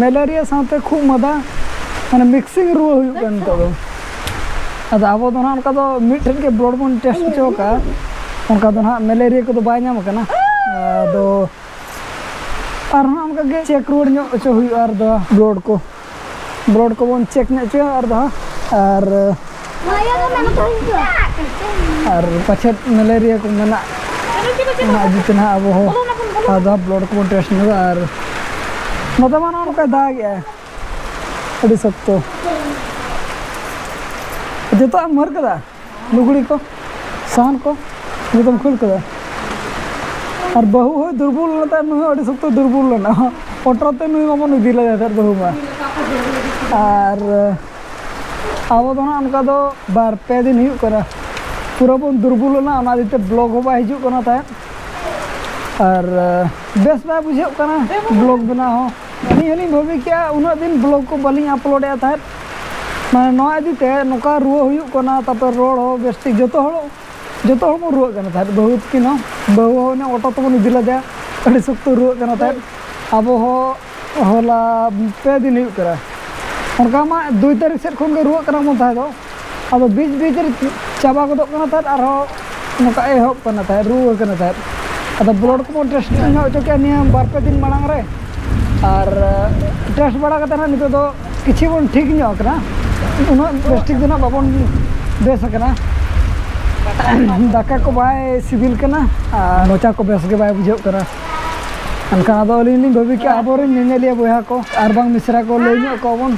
malaria ᱥᱟᱶᱛᱮ ᱠᱷᱩᱜ ᱢᱟᱫᱟ ᱢᱟᱱᱮ ᱢᱤᱠᱥᱤᱝ ᱨᱩᱣᱟᱹ ᱦᱩᱭᱩᱜ ᱠᱟᱱ ᱱᱤᱛᱚᱜ ᱫᱚ ᱟᱫᱚ ᱟᱵᱚ ᱫᱚ ᱱᱟᱦᱟᱜ ᱚᱱᱠᱟ ᱫᱚ ᱢᱤᱫᱴᱷᱮᱱ ᱜᱮ ᱵᱞᱚᱰ ᱵᱚᱱ ᱴᱮᱥᱴ ᱦᱚᱪᱚ ᱠᱟᱜᱼᱟ ᱚᱱᱠᱟ ᱫᱚ ᱱᱟᱦᱟᱜ ᱢᱮᱞᱮᱨᱤᱭᱟ ᱠᱚᱫᱚ ᱵᱟᱭ ᱧᱟᱢ ᱠᱟᱱᱟ ᱟᱫᱚ ᱟᱨᱦᱚᱸ ᱚᱱᱠᱟᱜᱮ ᱪᱮᱠ ᱨᱩᱣᱟᱹᱲ ᱧᱚᱜ ᱦᱚᱪᱚ ᱦᱩᱭᱩᱜᱼᱟ ᱟᱨ ᱫᱚ ᱵᱞᱚᱰ ᱠᱚ ᱵᱞᱚᱰ ᱠᱚᱵᱚᱱ ᱪᱮᱠ ᱧᱚᱜ ᱦᱚᱪᱚᱭᱟ ᱟᱨ ᱫᱚ ᱟᱨ ᱟᱨ ᱯᱟᱪᱷᱮᱫ ᱢᱮᱞᱮᱨᱤᱭᱟ ᱠᱚ ᱢᱮᱱᱟᱜ ᱚᱱᱟ ᱤᱫᱤ ᱛᱮ ᱱᱟᱦᱟᱜ ᱟᱵᱚ ᱦᱚᱸ ᱟᱨ ᱫᱚ ᱵᱞᱚᱰ ᱠᱚᱵᱚᱱ ᱴᱮᱥᱴ ᱧᱚᱜᱟ ᱟᱨ ᱱᱚᱛᱮ ᱢᱟ ᱱᱚᱜᱼᱚ ᱱᱚᱝᱠᱟᱭ ᱫᱟᱜᱮᱜᱼᱟ ᱟᱹᱰᱤ ᱥᱚᱠᱛᱚ ᱡᱚᱛᱚᱣᱟᱜ ᱮᱢ ᱢᱟᱹᱨ ᱠᱟᱫᱟ ᱞᱩᱜᱽᱲᱤ ᱠᱚ ᱥᱟᱦᱟᱱ ᱠᱚ ᱡᱚᱛᱚᱢ ᱠᱷᱟᱹᱲ ᱠᱮᱫᱟ ᱟᱨ ᱵᱟᱹᱦᱩ ᱦᱚᱸ ᱫᱩᱨᱵᱚᱞ ᱞᱮᱱᱟ ᱛᱟᱭᱚᱢ ᱱᱩᱭ ᱦᱚᱸ ᱟᱹᱰᱤ ᱥᱚᱠᱛᱚ ᱫᱩᱨᱵᱚᱞ ᱞᱮᱱᱟ ᱚᱴᱳ ᱛᱮ ᱱᱩᱭ ᱢᱟᱵᱚᱱ ᱤᱫᱤ ᱞᱮᱫᱮ ᱛᱟᱦᱮᱸᱫ ᱵᱟᱹᱦᱩ ᱢᱟ ᱟᱨ ᱟᱵᱚ ᱫᱚ ᱦᱟᱸᱜ ᱚᱱᱠᱟ ᱫᱚ ᱵᱟᱨ ᱯᱮ ᱫᱤᱱ ᱦᱩᱭᱩᱜ ᱠᱟᱱᱟ ᱯᱩᱨᱟᱹ ᱵᱚᱱ ᱫᱩᱨᱵᱚᱞ ᱞᱮᱱᱟ ᱚᱱᱟ ᱤᱫᱤ ᱛᱮ ᱵᱞᱚᱜᱽ ᱦᱚᱸ ᱵᱟᱭ ᱦᱤᱡᱩᱜ ᱠᱟᱱᱟ ᱛᱟᱦᱮᱸᱫ ᱟᱨ ᱵᱮᱥ ᱵᱟᱭ ᱵᱩᱡᱷᱟᱹᱜ ᱠᱟᱱᱟ ᱵᱞᱚᱜᱽ ᱵᱮᱱᱟᱣ ᱦᱚᱸ ᱟᱹᱞᱤᱧ ᱦᱚᱸᱞᱤᱧ ᱵᱷᱟᱹᱵᱤ ᱠᱮᱜᱼᱟ ᱩᱱᱟᱹᱜ ᱫᱤᱱ ᱵᱞᱚᱜᱽ ᱠᱚ ᱵᱟᱹᱞᱤᱧ ᱟᱯᱞᱳᱰᱮᱜᱼᱟ ᱛᱟᱦᱮᱸᱫ ᱢᱟᱱᱮ ᱱᱚᱣᱟ ᱤᱫᱤ ᱛᱮ ᱱᱚᱝᱠᱟ ᱨᱩᱣᱟᱹ ᱦᱩᱭᱩᱜ ᱠᱟᱱᱟ ᱛᱟᱨᱯᱚᱨ ᱨᱚᱲ ᱦᱚᱸ ᱵᱮᱥ ᱴᱷᱤᱠ ᱡᱚᱛᱚ ᱦᱚᱲ ᱡᱚᱛᱚ ᱦᱚᱲ ᱵᱚᱱ ᱨᱩᱣᱟᱹᱜ ᱠᱟᱱᱟ ᱛᱟᱦᱮᱸᱫ ᱵᱟᱹᱦᱩ ᱛᱟᱹᱠᱤᱱ ᱦᱚᱸ ᱵᱟᱹᱦᱩ ᱦᱚᱸ ᱚᱱᱮ ᱚᱴᱳ ᱛᱮᱵᱚᱱ ᱤᱫᱤ ᱞᱮᱫᱮᱭᱟ ᱟᱹᱰᱤ ᱥᱚᱠᱛᱚ ᱨᱩᱣᱟᱹᱜ ᱠᱟᱱᱟ ᱛᱟᱦᱮᱸᱫ ᱟᱵᱚ ᱦᱚᱸ ᱦᱚᱞᱟ ᱯᱮ ᱫᱤᱱ ᱦᱩᱭᱩᱜ ᱠᱟᱱᱟ ᱚᱱᱠᱟ ᱢᱟ ᱫᱩᱭ ᱛᱟᱹᱨᱤᱠᱷ ᱥᱮᱫ ᱠᱷᱚᱱ ᱜᱮ ᱨᱩᱣᱟᱹᱜ ᱠᱟᱱᱟ ᱵᱚᱱ ᱛᱟᱦᱮᱸ ᱫᱚ ᱟᱫᱚ ᱵᱤᱪ ᱵᱤᱪ ᱨᱮ ᱪᱟᱵᱟ ᱜᱚᱫᱚᱜ ᱠᱟᱱᱟ ᱛᱟᱦᱮᱸᱫ ᱟᱨᱦᱚᱸ ᱱᱚᱝᱠᱟ ᱮᱦᱚᱵ ᱠᱟᱱᱟ ᱛᱟᱦᱮᱸᱫ ᱨᱩᱣᱟᱹ ᱠᱟᱱᱟ ᱛᱟᱦᱮᱸᱫ ᱟᱫᱚ ᱵᱞᱟᱰ ᱠᱚᱵᱚᱱ ᱴᱮᱥᱴ ᱧᱚᱜ ᱦᱚᱪᱚ ᱠᱮᱫᱼᱟ ᱱᱤᱭᱟᱹ ᱵᱟᱨ ᱯᱮ ᱫᱤᱱ ᱢᱟᱲᱟᱝ ᱨᱮ ᱟᱨ ᱴᱮᱥᱴ ᱵᱟᱲᱟ ᱠᱟᱛᱮᱫ ᱦᱟᱸᱜ ᱱᱤᱛᱚᱜ ᱫᱚ ᱠᱤᱪᱷᱩ ᱵᱚᱱ ᱴᱷᱤᱠ ᱧᱚᱜ ᱟᱠᱟᱱᱟ ᱩᱱᱟᱹᱜ ᱵᱮᱥ ᱴᱷᱤᱠ ᱫᱚ ᱦᱟᱸᱜ ᱵᱟᱵᱚᱱ ᱵᱮᱥ ᱟᱠᱟᱱᱟ ᱫᱟᱠᱟ ᱠᱚ ᱵᱟᱭ ᱥᱤᱵᱤᱞ ᱠᱟᱱᱟ ᱟᱨ ᱢᱚᱪᱟ ᱠᱚ ᱵᱮᱥ ᱜᱮ ᱵᱟᱭ ᱵᱩᱡᱷᱟᱹᱜ ᱠᱟᱱᱟ ᱮᱱᱠᱷᱟᱱ ᱟᱫᱚ ᱟᱹᱞᱤᱧ ᱞᱤᱧ ᱵᱷᱟᱹᱵᱤ ᱠᱮᱫᱼᱟ ᱟᱵᱚᱨᱮᱱ ᱧᱮᱧᱮᱞᱤᱭᱟᱹ ᱵᱚᱭᱦᱟ ᱠᱚ ᱟᱨ ᱵᱟᱝ ᱢᱤᱥᱨᱟ ᱠᱚ ᱞᱟᱹᱭ ᱧᱚᱜ ᱟᱠᱚᱣᱟᱵᱚᱱ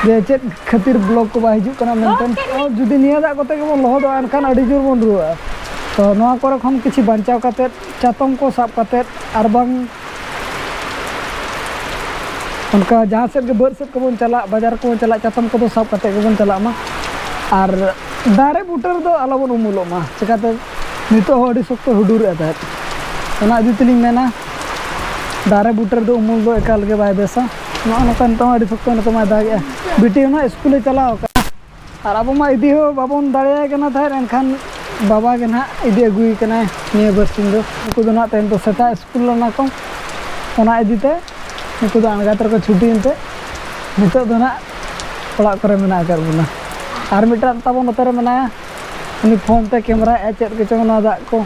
ᱡᱮ ᱪᱮᱫ ᱠᱷᱟᱹᱛᱤᱨ ᱵᱞᱚᱠ ᱠᱚ ᱵᱟᱭ ᱦᱤᱡᱩᱜ ᱠᱟᱱᱟ ᱢᱮᱱᱛᱮ ᱡᱩᱫᱤ ᱱᱤᱭᱟᱹ ᱫᱟᱜ ᱠᱚᱛᱮ ᱜᱮᱵᱚᱱ ᱞᱚᱦᱚᱫᱚᱜᱼᱟ ᱮᱱᱠᱷᱟᱱ ᱟᱹᱰᱤ ᱡᱳᱨ ᱵᱚᱱ ᱨᱩᱣᱟᱹᱜᱼᱟ ᱛᱚ ᱱᱚᱣᱟ ᱠᱚᱨᱮ ᱠᱷᱚᱱ ᱠᱤᱪᱷᱩ ᱵᱟᱧᱪᱟᱣ ᱠᱟᱛᱮ ᱪᱟᱛᱚᱢ ᱠᱚ ᱥᱟᱵ ᱠᱟᱛᱮ ᱟᱨ ᱵᱟᱝ ᱚᱱᱠᱟ ᱡᱟᱦᱟᱸ ᱥᱮᱫ ᱜᱮ ᱵᱟᱹᱫ ᱥᱮᱫ ᱠᱚᱵᱚᱱ ᱪᱟᱞᱟᱜ ᱵᱟᱡᱟᱨ ᱠᱚᱵᱚᱱ ᱪᱟᱞᱟᱜ ᱪᱟᱛᱚᱢ ᱠᱚᱫᱚ ᱥᱟᱵ ᱠᱟᱛᱮ ᱜᱮᱵᱚᱱ ᱪᱟᱞᱟᱜ ᱢᱟ ᱟᱨ ᱫᱟᱨᱮ ᱵᱩᱴᱟᱹ ᱨᱮᱫᱚ ᱟᱞᱚᱵᱚᱱ ᱩᱢᱩᱞᱚᱜ ᱢᱟ ᱪᱤᱠᱟᱹᱛᱮ ᱱᱤᱛᱚᱜ ᱦᱚᱸ ᱟᱹᱰᱤ ᱥᱚᱠᱛᱚ ᱦᱩᱰᱩᱨᱮᱫ ᱛᱟᱦᱮᱸᱫ ᱚᱱᱟ ᱤᱫᱤ ᱛᱮᱞᱤᱧ ᱢᱮᱱᱟ ᱫᱟᱨᱮ ᱵᱩᱴᱟᱹ ᱨᱮᱫᱚ ᱩᱢᱩᱞ ᱫᱚ ᱮᱠᱟᱞ ᱜᱮ ᱵᱟᱭ ᱵᱮᱥᱟ ᱱᱚᱜᱼᱚ ᱱᱚᱝᱠᱟ ᱱᱤᱛᱚᱝ ᱟᱹᱰᱤ ᱥᱚᱠᱛᱚ ᱱᱤᱛᱚᱝ ᱢᱟᱭ ᱫᱟᱜᱮᱜᱼᱟ ᱵᱤᱴᱤ ᱦᱚᱸ ᱱᱟᱦᱟᱜ ᱥᱠᱩᱞᱮ ᱪᱟᱞᱟᱣ ᱟᱠᱟᱱᱟ ᱟᱨ ᱟᱵᱚ ᱢᱟ ᱤᱫᱤ ᱦᱚᱸ ᱵᱟᱵᱚᱱ ᱫᱟᱲᱮᱭᱟᱭ ᱠᱟᱱᱟ ᱛᱟᱦᱮᱸᱫ ᱮᱱᱠᱷᱟᱱ ᱵᱟᱵᱟ ᱜᱮ ᱱᱟᱦᱟᱜ ᱤᱫᱤ ᱟᱹᱜᱩᱭᱮ ᱠᱟᱱᱟᱭ ᱱᱤᱭᱟᱹ ᱵᱟᱨᱥᱤᱧ ᱫᱚ ᱩᱱᱠᱩ ᱫᱚ ᱱᱟᱦᱟᱜ ᱛᱮᱦᱮᱧ ᱫᱚ ᱥᱮᱛᱟᱜ ᱥᱠᱩᱞ ᱞᱮᱱᱟ ᱠᱚ ᱚᱱᱟ ᱤᱫᱤ ᱛᱮ ᱩᱱᱠᱩ ᱫᱚ ᱟᱬᱜᱟᱛ ᱨᱮᱠᱚ ᱪᱷᱩᱴᱤᱭᱮᱱ ᱛᱮ ᱱᱤᱛᱚᱜ ᱫᱚ ᱱᱟᱦᱟᱜ ᱚᱲᱟᱜ ᱠᱚᱨᱮ ᱢᱮᱱᱟᱜ ᱟᱠᱟᱫ ᱵᱚᱱᱟ ᱟᱨ ᱢᱤᱫᱴᱟᱝ ᱛᱟᱵᱚᱱ ᱱᱚᱛᱮ ᱨᱮ ᱢᱮᱱᱟᱭᱟ ᱩᱱᱤ ᱯᱷᱳᱱ ᱛᱮ ᱠᱮᱢᱮᱨᱟᱭᱮᱫᱼᱟᱭ ᱪᱮᱫ ᱠᱚᱪᱚᱝ ᱚᱱᱟ ᱫᱟᱜ ᱠᱚ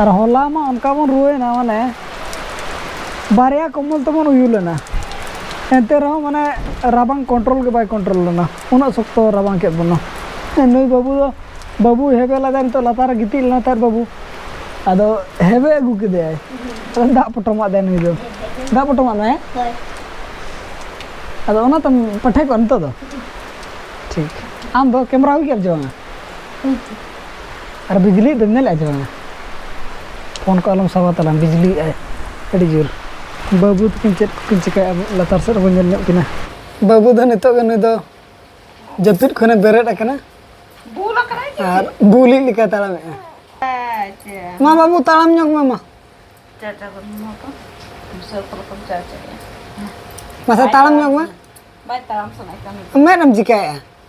ᱟᱨ ᱦᱚᱞᱟ ᱢᱟ ᱚᱱᱠᱟ ᱵᱚᱱ ᱨᱩᱣᱟᱹᱭᱮᱱᱟ ᱢᱟᱱᱮ ᱵᱟᱨᱭᱟ ᱠᱚᱢᱵᱚᱞ ᱛᱮᱵᱚᱱ ᱩᱭᱩ ᱞᱮᱱᱟ ᱮᱱᱛᱮ ᱨᱮᱦᱚᱸ ᱢᱟᱱᱮ ᱨᱟᱵᱟᱝ ᱠᱚᱱᱴᱨᱳᱞ ᱜᱮ ᱵᱟᱭ ᱠᱚᱱᱴᱨᱳᱞ ᱞᱮᱱᱟ ᱩᱱᱟᱹᱜ ᱥᱚᱠᱛᱚ ᱨᱟᱵᱟᱝ ᱠᱮᱫ ᱵᱚᱱᱟ ᱱᱩᱭ ᱵᱟᱹᱵᱩ ᱫᱚ ᱵᱟᱹᱵᱩᱭ ᱦᱮᱵᱮ ᱞᱮᱫᱟ ᱱᱤᱛᱚᱜ ᱞᱟᱛᱟᱨ ᱨᱮ ᱜᱤᱛᱤᱡ ᱞᱮᱱᱟ ᱛᱟᱦᱮᱸᱫ ᱵᱟᱹᱵᱩ ᱟᱫᱚ ᱦᱮᱵᱮ ᱟᱹᱜᱩ ᱠᱮᱫᱮᱭᱟᱭ ᱫᱟᱜ ᱯᱚᱴᱚᱢᱟᱜ ᱫᱟᱭ ᱱᱩᱭ ᱫᱚ ᱫᱟᱜ ᱯᱚᱴᱚᱢᱟᱜ ᱢᱮ ᱟᱫᱚ ᱚᱱᱟ ᱛᱮᱢ ᱯᱟᱴᱷᱮ ᱠᱚᱜᱼᱟ ᱱᱤᱛᱚᱜ ᱫᱚ ᱴᱷᱤᱠ ᱟᱢ ᱫᱚ ᱠᱮᱢᱮᱨᱟ ᱦᱩᱭ ᱠᱮᱫ ᱟᱢ ᱥᱮ ᱵᱟᱝᱟ ᱟᱨ ᱵᱤᱡᱽᱞᱤ ᱫᱚᱢ ᱧᱮᱞᱮᱫᱼᱟ ᱥᱮ ᱵᱟᱝᱟ ᱯᱷᱳᱱ ᱠᱚ ᱟᱞᱚᱢ ᱥᱟᱵᱟ ᱛᱟᱞᱟᱝ ᱵᱤᱡᱽᱞᱤ ᱮᱫᱟᱭ ᱟᱹᱰᱤ ᱡᱳᱨ ᱵᱟᱹᱵᱩ ᱛᱟᱹᱠᱤᱱ ᱪᱮᱫ ᱠᱚᱠᱤᱱ ᱪᱤᱠᱟᱹᱭᱮᱫᱼᱟ ᱟᱵᱚ ᱞᱟᱛᱟᱨ ᱥᱮᱫ ᱨᱮᱵᱚᱱ ᱧᱮᱞ ᱧᱚᱜ ᱠᱤᱱᱟ ᱵᱟᱹᱵᱩ ᱫᱚ ᱱᱤᱛᱚᱜ ᱜᱮ ᱱᱩᱭ ᱫᱚ ᱡᱟᱹᱯᱤᱫ ᱠᱷᱚᱱᱮ ᱵᱮᱨᱮᱫ ᱟᱠᱟᱱᱟ ᱵᱩᱞ ᱟᱠᱟᱱᱟᱭ ᱪᱮ ᱟᱨ ᱵᱩᱞᱤᱡ ᱞᱮᱠᱟ ᱛᱟᱲᱟᱢᱮᱫᱼᱟ ᱪᱮ ᱢᱟ ᱵᱟᱹᱵᱩ ᱛᱟᱲᱟᱢ ᱧᱚᱜ ᱢᱮ ᱢᱟ ᱪᱟᱪᱟ ᱠᱚ ᱢᱟ ᱠᱚ ᱥᱚᱨ ᱠᱚ ᱠᱚ ᱪᱟᱪᱟ ᱢᱟᱥᱮ ᱛᱟᱲᱟᱢ ᱧᱚᱜ ᱢᱮ ᱵᱟᱭ ᱛᱟᱲᱟᱢ ᱥᱟᱱᱟᱭ ᱠᱟᱱᱟ ᱢᱮᱫ ᱮᱢ ᱪᱤᱠᱟᱹᱭᱮᱫᱼᱟ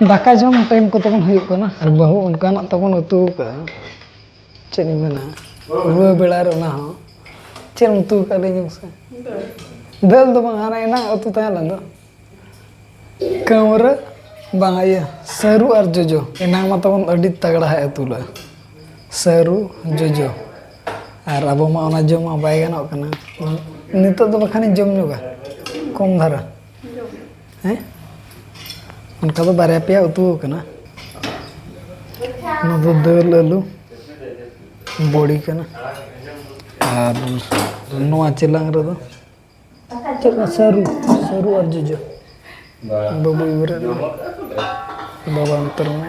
ᱫᱟᱠᱟ ᱡᱚᱢ ᱴᱟᱭᱤᱢ ᱠᱚ ᱛᱟᱵᱚᱱ ᱦᱩᱭᱩᱜ ᱠᱟᱱᱟ ᱟᱨ ᱵᱟᱹᱦᱩ ᱚᱱᱠᱟᱱᱟᱜ ᱛᱟᱵᱚᱱ ᱩᱛᱩ ᱟᱠᱟᱫᱼᱟ ᱪᱮᱫ ᱤᱧ ᱢᱮᱱᱟ ᱨᱩᱣᱟᱹ ᱵᱮᱲᱟ ᱨᱮ ᱚᱱᱟ ᱦᱚᱸ ᱪᱮᱫ ᱮᱢ ᱩᱛᱩ ᱟᱠᱟᱫ ᱞᱟᱹᱭ ᱧᱚᱜ ᱢᱮᱥᱮ ᱫᱟᱹᱞ ᱫᱚ ᱵᱟᱝ ᱦᱟᱱᱟ ᱮᱱᱟᱝ ᱩᱛᱩ ᱛᱟᱦᱮᱸ ᱞᱮᱱ ᱫᱚ ᱠᱟᱹᱣᱨᱟᱹ ᱵᱟᱝ ᱤᱭᱟᱹ ᱥᱟᱹᱨᱩ ᱟᱨ ᱡᱚᱡᱚ ᱮᱱᱟᱝ ᱢᱟ ᱛᱟᱵᱚᱱ ᱟᱹᱰᱤ ᱛᱟᱜᱲᱟ ᱦᱟᱸᱜ ᱩᱛᱩ ᱞᱮᱫᱼᱟ ᱥᱟᱹᱨᱩ ᱡᱚᱡᱚ ᱟᱨ ᱟᱵᱚ ᱢᱟ ᱚᱱᱟ ᱡᱚᱢ ᱢᱟ ᱵᱟᱭ ᱜᱟᱱᱚᱜ ᱠᱟᱱᱟ ᱱᱤᱛᱚᱜ ᱫᱚ ᱵᱟᱠᱷᱟᱱᱤᱧ ᱡᱚᱢ ᱧᱚᱜᱟ ᱠᱚᱢ ᱫᱷᱟᱨᱟ ᱦᱮᱸ ᱚᱱᱠᱟ ᱫᱚ ᱵᱟᱨᱭᱟ ᱯᱮᱭᱟ ᱩᱛᱩ ᱠᱟᱱᱟ ᱚᱱᱟ ᱫᱚ ᱫᱟᱹᱞ ᱟᱹᱞᱩ ᱵᱚᱲᱤ ᱠᱟᱱᱟ ᱟᱨ ᱱᱚᱣᱟ ᱪᱮᱞᱟᱝ ᱨᱮᱫᱚ ᱪᱮᱫ ᱠᱟᱱᱟ ᱥᱟᱹᱨᱩ ᱥᱟᱹᱨᱩ ᱟᱨ ᱡᱚᱡᱚ ᱵᱟᱵᱩ ᱤᱵᱨᱮ ᱵᱟᱵᱟ ᱚᱱᱛᱚᱨ ᱢᱮ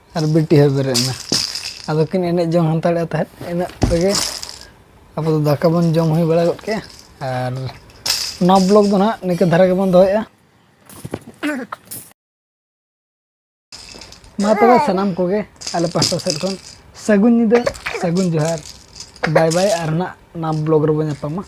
ᱟᱨ ᱵᱤᱴᱤ ᱦᱚᱸ ᱵᱮᱨᱮᱫ ᱮᱱᱟ ᱟᱫᱚ ᱠᱤᱱ ᱮᱱᱮᱡ ᱡᱚᱝ ᱦᱟᱱᱛᱟᱲᱮᱫ ᱛᱟᱦᱮᱸᱫ ᱤᱱᱟᱹᱜ ᱛᱮᱜᱮ ᱟᱵᱚ ᱫᱚ ᱫᱟᱠᱟ ᱵᱚᱱ ᱡᱚᱢ ᱦᱩᱭ ᱵᱟᱲᱟ ᱜᱚᱫ ᱠᱮᱜᱼᱟ ᱟᱨ ᱱᱚᱣᱟ ᱵᱞᱚᱜᱽ ᱫᱚ ᱱᱟᱦᱟᱜ ᱱᱤᱝᱠᱟᱹ ᱫᱷᱟᱨᱟ ᱜᱮᱵᱚᱱ ᱫᱚᱦᱚᱭᱮᱜᱼᱟ ᱢᱟ ᱛᱚᱵᱮ ᱥᱟᱱᱟᱢ ᱠᱚᱜᱮ ᱟᱞᱮ ᱯᱟᱥᱴᱟ ᱥᱮᱫ ᱠᱷᱚᱱ ᱥᱟᱹᱜᱩᱱ ᱧᱤᱫᱟᱹ ᱥᱟᱹᱜᱩᱱ ᱡᱚᱦᱟᱨ ᱵᱟᱭ ᱵᱟᱭ ᱟᱨ ᱱᱟᱜ ᱱᱚᱣᱟ ᱵᱞᱚᱜᱽ ᱨᱮᱵᱚᱱ ᱧᱟᱯᱟᱢᱟ